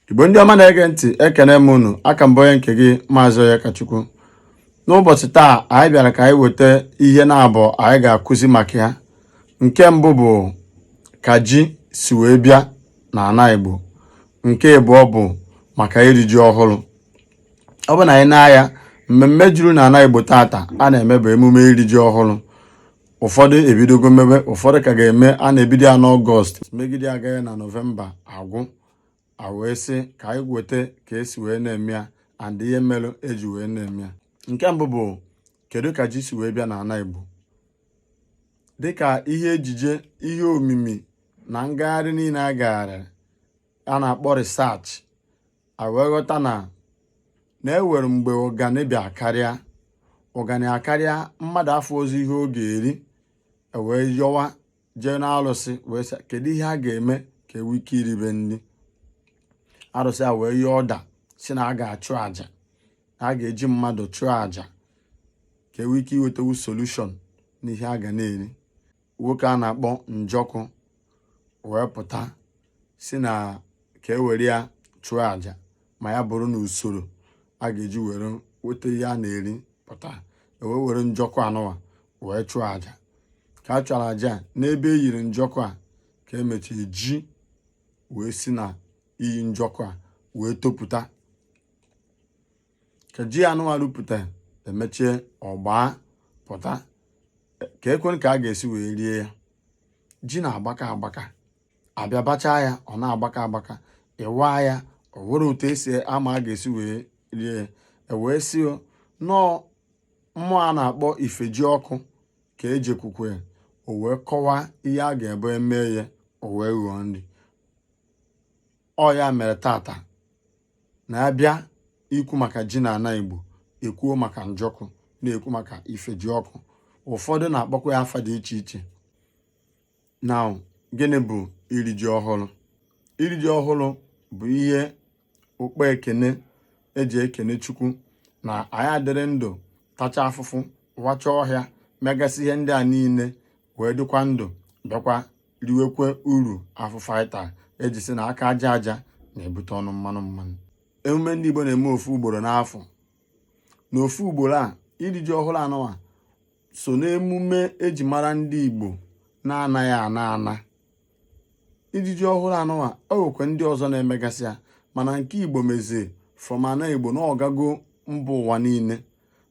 igbo ndị ọma na-ege ntị ekene m unu aka m bụ onye nke gị maazị Onyekachukwu n'ụbọchị taa anyị bịara ka anyị weta ihe naabọ anyị ga-akụzi maka ya nke mbụ bụ ka ji si wee bịa na ana igbo nke ịbụọ bụ maka iri ji ọhụrụ ọ bụ na anyị nee anya mmemme juru na ana igbo tata a na-eme bụ emume iri ji ọhụrụ ụfọdụ ebidogo mebe ụfọdụ ka ga-eme a na-ebido ya n'ọgọst megide ya ganye na nọvemba agwụ a wee sị ka anyị weta ka esi wee na-eme ya and ihe melu eji wee na-eme ya nke mbụ bụ kedu ka ji si wee bịa n'ana Igbo dịka ihe ejije ihe omimi na ngagharị niile a gagharịrị a na-akpọ research a wee ghọta na na e nwere mgbe ụganị bịa karịa ụganị akarịa mmadụ afụrọzi ihe ọ ga-eri e wee yọwa jee n'arụsị wee sị kedu ihe a ga-eme ka e nwee ike iribe nri arụsị a wee nye ọda sị na a ga-achụ àjà na a ga-eji mmadụ chụọ àjà ka e nwee ike iwetanwu solution n'ihe a ga na-eri nwoke a na-akpọ njọkụ wee pụta sị na ka e were ya chụọ aja ma ya bụrụ na usoro a ga-eji were weta ihe a na-eri pụta ewee were njọkụ anụnwa wee chụọ aja ka a chụchara aja n'ebe e nyiri njọkụ a ka emechiri ji wee si na inyi njọkụ a wee topụta ka ji anụnwa rupụta emechie ọ gbapụta kekwanụ ka a ga-esi wee rie ya ji na-agbaka agbaka a bịa bachaa ya ọ na-agbaka agbaka ị waa ya o nwerọ otu esi ama a ga-esi wee rie ya ewee sị na ọ mmụọ a na-akpọ Ifejiọkụ ka e jekwuru o wee kọwaa ihe a ga-ebe mee ya o wee ghọọ nri ọ ya mere tata na a bịa ikwu maka ji na ana Igbo ekwuo maka njọkụ na-ekwu maka Ifejiọkụ ụfọdụ na-akpọkwa ya afa dị iche iche na gịnị bụ iri ji ọhụrụ iri ji ọhụrụ bụ ihe okpe ekene eji ekene chukwu na anyị adịrị ndụ tacha afụfụ wacha ọhịa megasị ihe ndị a niile wee dịkwa ndụ bịakwa riwekwe uru afụfụ anyị tara eji sị na aka aja aja na-ebute ọnụ mmanụ mmanụ emume ndị Igbo na-eme ofu ugboro n'afọ na ofu ugboro a iri ji ọhụrụ anụnwa so n'emume eji mara ndị Igbo na-anaghị ana ana iri ji ọhụrụ anụnwa o nwekwa ndị ọzọ na-emegasị ya mana nke igbo mezie fọmana igbo na ọ gago mba ụwa niile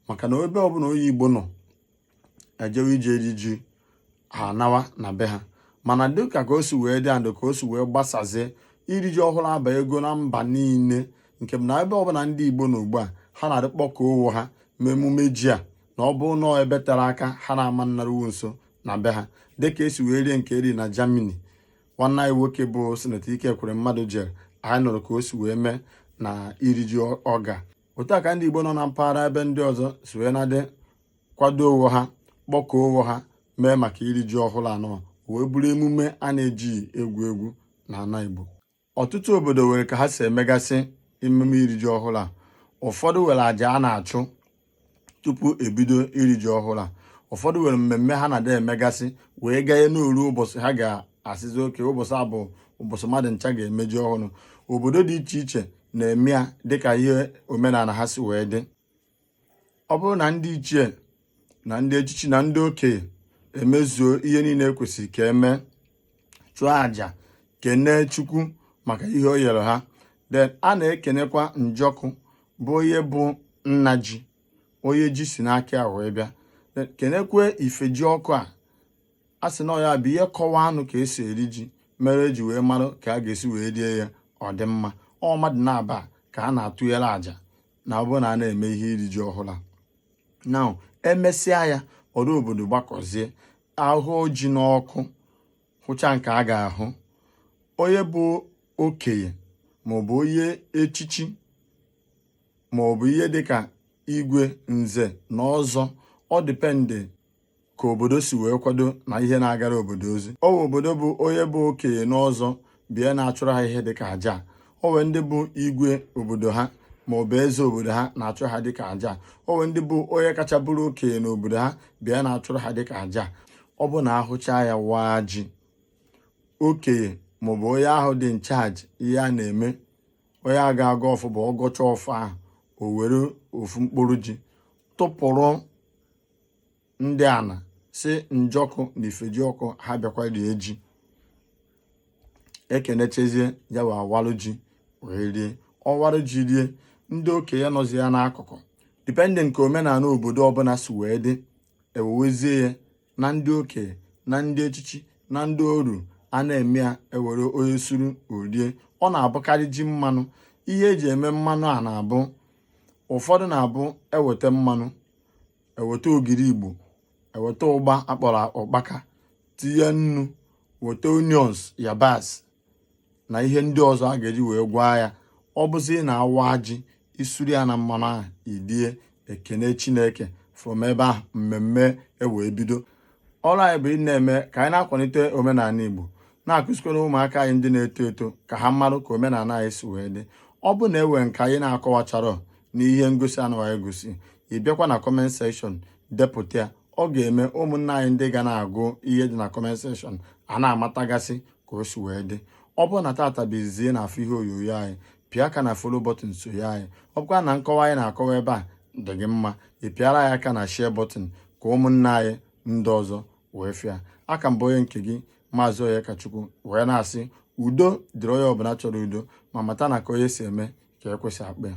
maka na ebe ọbụla onye igbo nọ ejewe ije iri ji ha anawa na be ha mana dịka ka o si wee dị andụ ka o si wee gbasazie iri ji ọhụrụ abago na mba niile nke bụ na ebe ọbụla ndị Igbo nọ ugbu a ha na-adị akpọkọ onwe ha mee emume ji a na ọ bụ nọọ ebe tere aka ha na-ama nnaruwu nso na be ha dịka esi wee rie nke eri na Germany nwanne anyị nwoke bụ Sinetọ Ike Ekweremadu jere anyị nụrụ ka o si wee mee na iri ji ọ ga otu a ka ndị Igbo nọ na mpaghara ebe ndị ọzọ si wee na-adị kwado onwe ha kpọkọọ onwe ha mee maka iri ji ọhụrụ a nọ wee bụrụ emume a na-ejighị egwu egwu na ala Igbo ọtụtụ obodo nwere ka ha si emegasị emume iri ji ọhụrụ a ụfọdụ nwere aja a na-achụ tupu ebido iri ji ọhụrụ a ụfọdụ nwere mmemme ha na-adị emegasị wee ganye na o ruo ụbọchị ha ga-asịzi okay ụbọchị a bụ ụbọchị mmadụ ncha ga-eme ji ọhụrụ obodo dị iche iche na-eme ya dịka ihe omenala ha si wee dị ọ bụrụ na ndị ichie na ndị echichi na ndị okenye emezuo ihe niile ekwesịrị ka eme chụọ àjà kenee chukwu maka ihe o nyere ha then a na-ekenekwa Njọkụ bụ onye bụ nna ji onye ji si n'aka ya wee bịa kenekwa Ifejiọkụ a a sị na ọ ya bụ ihe kọwanụ ka esi eri ji mere eji wee mara ka a ga-esi wee rie ya ọ dị mma ọ bụ mmadụ naabọ a ka a na-atụnyere àjà na ọ bụrụ na a na-eme ihe iri ji ọhụrụ a na emesịa ya ọra obodo gbakọzie ahụọ ji n'ọkụ hụcha nke a ga-ahụ onye bụ okenye maọbụ onye echichi maọbụ ihe dịka igwe nze na ọzọ ọ depend ka obodo si wee kwado na ihe na-agara obodo ozi o nwee obodo bụ onye bụ okenye n'ọzọ bịa na-achụrụ ha ihe dịka aja o nwee ndị bụ igwe obodo ha ma ọ bụ eze obodo ha na-achụ ha dịka aja o nwee ndị bụ onye kacha bụrụ okenye n'obodo ha bịa na-achụrụ ha dịka aja ọ bụ na ahụcha ya waa ji okenye maọbụ onye ahụ dị in charge ihe a na-eme onye a ga-agọ ọfọ bụ ọ gọcha ọfọ ahụ o were ofu mkpụrụ ji tụpụrụ ndị ana sị Njọkụ na Ifejiọkụ ha bịakwa rie ji ekenechazie ya bụ ọ walụ ji wee rie ọ walụ ji rie ndị okenye nọzi ya n'akụkụ depending ka omenala obodo ọbụla si wee dị ewewezie ya na ndị okenye na ndị echichi na ndị oru a na-eme ya ewere onye suru o rie ọ na-abụkarị ji mmanụ ihe eji eme mmanụ a na-abụ ụfọdụ na-abụ eweta mmanụ eweta ogiri igbo eweta ụgba akpọrọ ụkpaka tinye nnu weta onions yabasị na ihe ndị ọzọ a ga-eji wee gwaa ya ọ bụzi na awa ji isuru ya na mmanụ ahụ irie ekene chineke from ebe ahụ mmemme ewee bido ọrụ anyị bụ ị na-eme ka anyị na-akwalite omenala igbo na-akụzikwara ụmụaka anyị ndị na-eto eto ka ha marụ ka omenala anyị si wee dị ọ bụ na enwe nke anyị na-akọwachara n'ihe ngosi anụwa anyị gosi ị bịakwa na kọment sekshọn depụta ya ọ ga-eme ụmụnna anyị ndị ga na-agụ ihe dị na kọment sekshọn a na-amatagasị ka o si wee dị ọ bụrụ na tata bụ izizi na-afụ ihe onyonyo anyị pịa aka na folo bọtịn sonye anyị ọ bụkwa na nkọwa anyị na-akọwa ebe a dị gị mma ị pịara anyị aka na share bọtịn ka ụmụnna anyị ndị ọzọ wee fụ ya aka m bụ onye nke gị maazị Onyekachukwu wee na-asị udo dịrị onye ọbụla chọrọ udo ma mata na ka onye si eme ka ekwesị akpa ya